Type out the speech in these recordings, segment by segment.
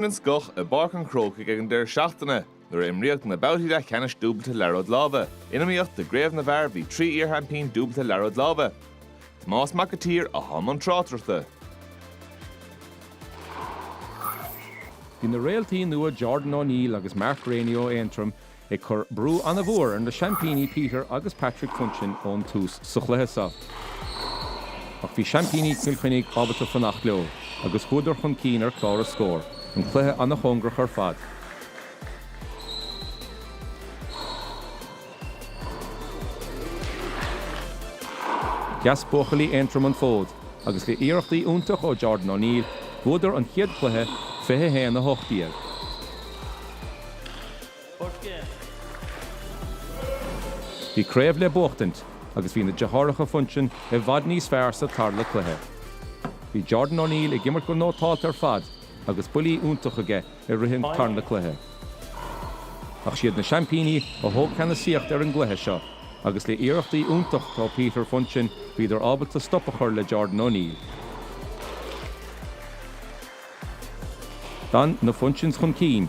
an scoth i bPáirc an Chrócaigh ag an deireadh seachtaine nuair a imríodh na babhtaí leathcheannais dúbailte Liathróid Láimhe. In iomaíocht do Chraobh na bhFear bhí trí iarsheaimpín dúbailte Liathróid Láimhe, Tomás Mac an tSaoir, atá i mbun tráchtaireachta, Bhí na réaltaí nua Jordan O'Neill agus Mark Rainey ó Aontroim ag cur brú an-mhór ar na seaimpíní Peter agus Patrick Funchion ón tús sa chluiche seo ach bhí seaimpíní Chill Chainnigh ábalta fanacht leo agus chuadar chun cinn ar chlár na scór, an cluiche an-chóngarach ar fad. Sheas buachaillí Aontroim an fód agus le iarrachtaí iontach ó Jordan O'Neill, bhuadar an chéad chluiche, 21, 18. Bhí craobh le buachtaint agus bhí na deartháireacha Funchion i bhfad níos fearr sa tarna cluiche. Bhí Jordan O'Neill ag imirt go nótáilte ar fad agus buillí iontach aige i rith an tarna cluiche. Ach siad na seaimpíní a thóg ceannasaíocht ar an gcluiche seo agus le iarrachtaí iontach ó Peter Funchion bhíodar ábalta stop a chur le Jordan O'Neill. D'fhan na Funchions chun cinn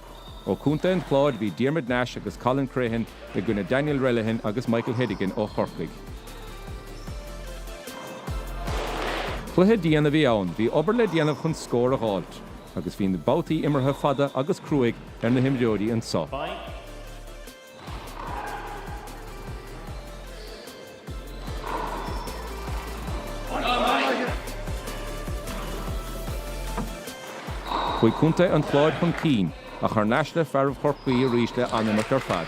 Ó Chontae an Chláir bhí Diarmuid Nash agus Colin Crehan i gcoinne Daniel Relihan agus Michael Hedigan ó Chorcaigh. Cluiche dian a bhí ann, bhí obair le déanamh chun scór a dh'fháilt agus bhí na babhtaí imeartha fada agus cruaidh ar na himreoirí anseo. Chuaigh Contae an Chláir chun cinn, ach thar n-ais le fearaibh Chorcaí arís le an-imirt ar fad.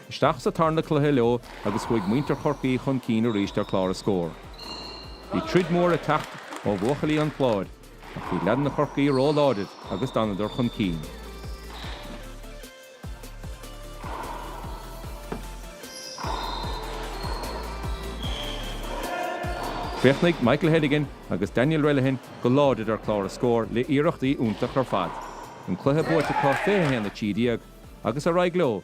Isteach sa tarna cluiche leo agus chuaigh muintir Chorcaí chun cinn arís ar chlár na scór. Bhí troid mhór ag teacht ó bhuachaillí an Chláir, ach bhí leaideanna Chorcaí ró-láidir agus d'fhanadar chun cinn. Chríochnaigh Michael Hedigan agus Daniel Relihan go láidir ar chlár na scór le iarrachtaí iontach ar fad. An cluiche buaite acu 21:13 agus ar aghaidh leo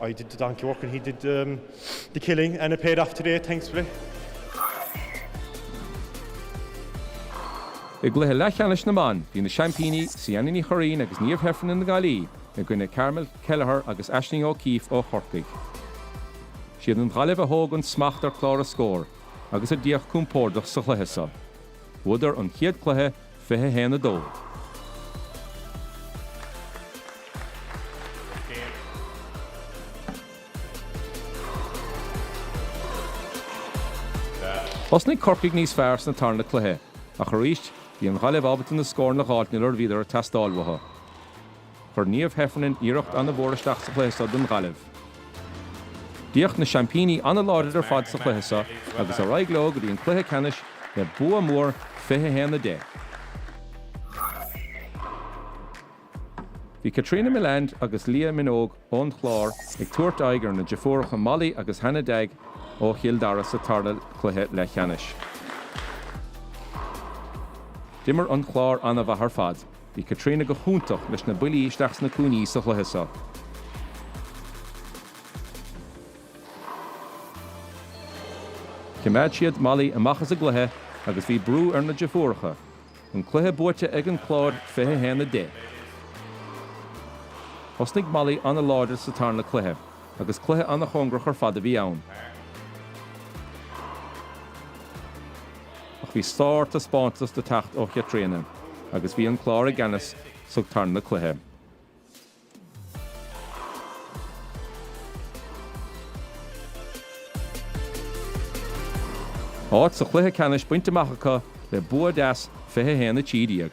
I did the donkey work and he did the killing and it paid off today, thankfully. I gcluiche leathcheannais na mban, bhí na seaimpíní, Ciana Ní Churraoin agus Niamh Heffernan na Gaillimhe, i gcoinne Carmel Kelleher agus Aisling O'Keefe ó Chorcaigh. Siad an Ghaillimh a thóg an smacht ar chlár na scór agus a d'fhéach compordach sa chluiche so. Bhuadar an chéad cluiche 21 a dó. Thosnaigh Corcaigh níos fearr sna tarna cluiche, ach arís bhí an Ghaillimh ábalta na scóranna a dh'fháilt nuair a bhíodar ag teastáil uathu. Chuir Niamh Heffernan iarracht an-mhór isteach sa chluiche seo don Ghaillimh. D'fhéach na seaimpíní an-láidir ar fad sa chluiche seo agus ar aghaidh leo go dtí an cluiche ceannais le bua mór, 21, 10. Bhí Caitríona Millane agus Leah Minogue ón Chlár ag tabhairt aghaidh ar na deirfiúracha Molly agus Hannah Dagg ó Chill Dara sa tarna cluiche leathcheannais. D'imir an Clár an-mhaith ar fad. Bhí Caitríona go hiontach leis na buillí isteach sna cúinní sa chluiche seo. Chimeád siad Molly amach as an gcluiche agus bhí brú ar na deirfiúracha. An cluiche buaite ag an Clár 21 a 10. Thosnaigh Molly an-láidir sa tarna cluiche agus cluiche an-chóngarach ar fad a bhí ann. Ach bhí sártaispeántas le teacht ó Chaitríona agus bhí an Clár i gceannas sa tarna cluiche. Áit sa chluiche ceannais bainte amach acu le bua deas, 21, 13.